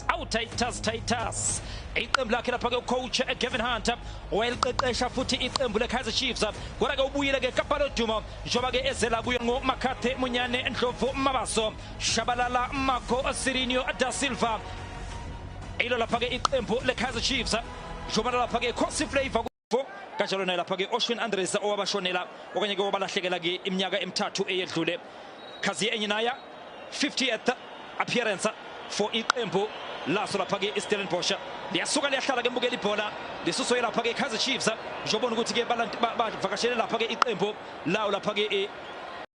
awu Titus Titus iqembu lakhe lapha ke coach Gavin Hunter wayeliqeqesha futhi iqembu leKaizer Chiefs kodwa ke ubuyile ke kaPalo Duma njengoba ke ezela kuyo ngoMakhathe Munyane Ndlovu Mabaso Shabalala Marco Sirinio da Silva ilo lapha ke iqembu leKaizer Chiefs njengoba lapha ke Khosi Flavor kanjalo naye lapha-ke oshwin andres owabashonela okanye ke wabalahlekela-ke iminyaka emithathu eyedlule khaziye enye naya 50th appearance for iqembu laso lapha-ke istellenbosha liyasuka liyahlala-ke mbukela ibhola lisuso yelapha-ke ikaizer chiefs njobona ukuthi-ke bavakashele lapha-ke iqembu lawo lapha-ke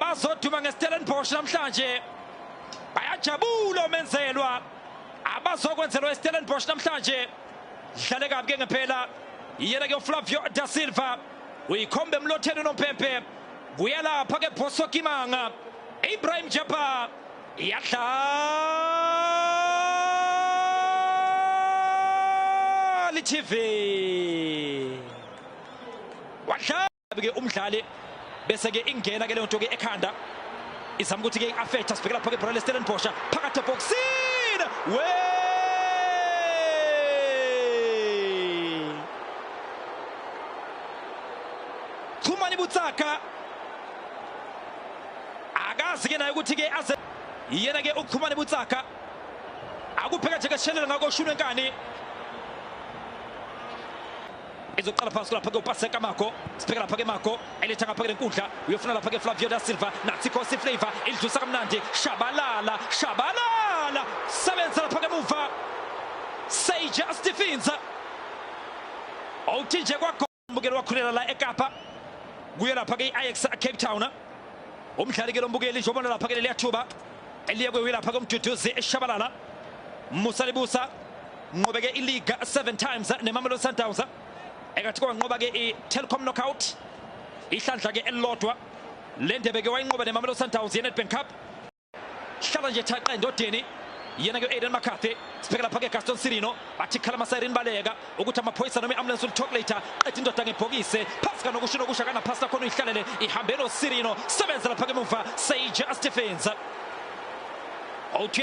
abazoduma ngeStellenbosch namhlanje bayajabula omenzelwa abazokwenzelwa iStellenbosch namhlanje dlale kabi ke ngempela iyena ke uFlavio da Silva uyikhombe emlotheni unompempe kuyalapha ke Bosso Kimanga Ibrahim Jabbar iyadlala TV wadlala ke umdlali bese ke ingena ke leyo nto ke ekhanda izama ukuthi ke i-affect asibheke lapho ke ibhola lestellenbosch phakathi ebhokisini we chumani butsaka akazi ke naye ukuthi ke aze yena ke uchumani butsaka akupheka nje keshelela ngako shunwe nkani izoqala phansi lapha-ke upase kamako sibheke lapha-ke mako eletha ngapha-ke lenkundla uyofuna lapha-ke flavio da silva nathi khosi flavor ilidlusa kamnandi shabalala shabalala sebenza lapha-ke muva seyijustifinza owuthinje kwagombukeli wakhulela la ekapa kuye lapha-ke i-ix cape town umdlali-ke lombukeli njobona lapha-ke leliya thuba eliye kwewi lapha-ke umduduzi eshabalala musa libusa Nqobeke iliga 7 times neMamelodi Sundowns. Ekathi kwanqoba ke iTelkom Knockout. Ihlandla ke elilodwa. Le ndebe ke wayinqoba neMamelodi Sundowns yeNedbank Cup. Hlala nje thaqa endodeni. yena ke Aiden McCarthy sibheke lapha ke Gaston Sirino athi khala amasayirini baleka ukuthi amaphoyisa noma i-ambulance ulitalk later qeda indoda ngebhokise phasi kanokusho nokusha kanaphasi lakhona uyihlalele ihambe nosirino sebenza lapha ke muva sage astefenza othi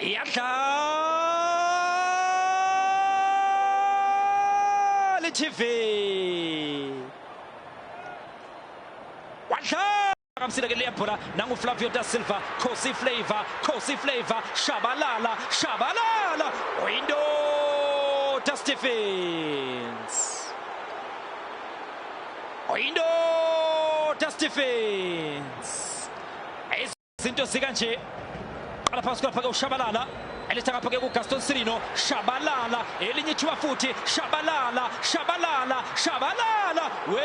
iyadlala itv wadlala kamsile ke leyabhola nanguflavio da silva khosi flavor khosi flavor shabalala shabalala oyindoda stephens oyindoda stephens Zinto zika nje qala phansi kwapha ke ushabalala eletha ngapha ke kuGaston Sirino shabalala elinye ithuba futhi shabalala shabalala shabalala we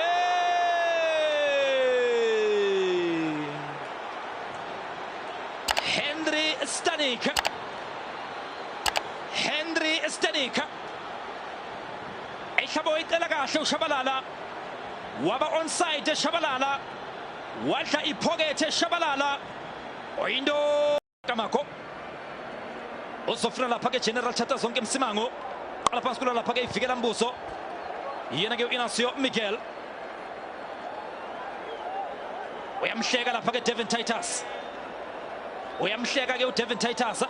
Henry Stanik Henry Stanik ehlabo icela kahle ushabalala waba onside shabalala Wadla iphokethe Shabalala. Oyindo Kamako. Uzofuna lapha ke General Chata zonke Msimango. Qala phansi kula lapha ke ivikela Mbuso. Yena ke uInacio Miguel. Uyamhleka lapha ke Devin Titus. Uyamhleka ke uDevin Titus.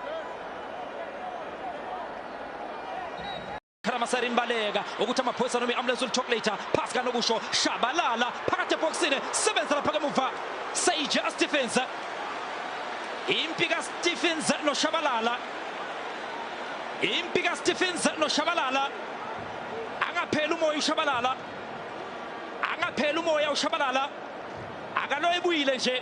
phela masayini imbaleka ukuthi amaphoyisa noma i-ambulance ulichocolate phasi kanokusho shabalala phakathi ebhokisini sebenza lapha kemuva sage astephens impi kastephens noshabalala impi kastephens noshabalala angapheli umoya ushabalala angapheli umoya ushabalala akaloyibuyile nje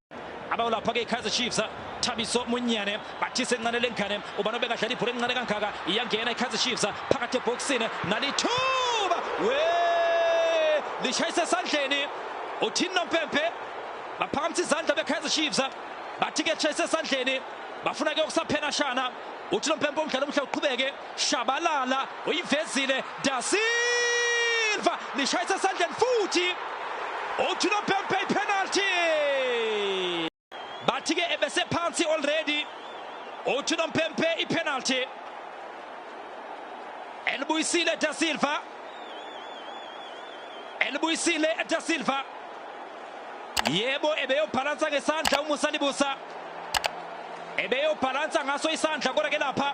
abawulapha-ke ikaizer chiefs thabiso munyane bathise encane lengane ubani obekadlala ibhola elincane kangaka iyangena ikaizer chiefs phakathi ebhokisini nalithuba we lishayise esandleni uthini nompempe baphakamisa izandla bekaizer chiefs bathi-ke tshayise esandleni bafuna-ke ukusaphena shana uthini nompempe umdlalo omuhle uqhubeke Shabalala uyivezile Da Silva lishayisa esandleni futhi uThino Bempe ipenalty. Bathi ke ebese phansi already uThino Bempe ipenalty. Elibuyisile Da Silva. Elibuyisile Da Silva. Yebo ebeyobhalansa ngesandla uMusa Libusa. Ebeyobhalansa ngaso isandla kodwa ke lapha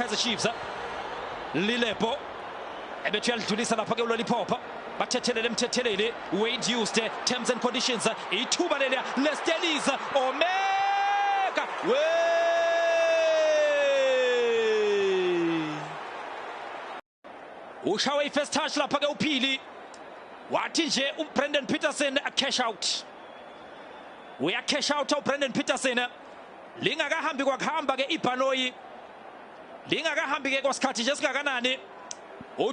Kaizer Chiefs eh? Lilepo ebethi uyalidlulisa lapha ke uloliphopha bathethelele emthetheleli Wade Houston eh? terms and conditions eh? ithuba leliya lesteliza omeka we ushawe i-first touch lapha-ke uphili wathi nje ubrandon peterson acash out uyacash out ubrandon peterson lingakahambi kwakuhamba-ke ibhanoyi lingakahambi-ke kwasikhathi nje singakanani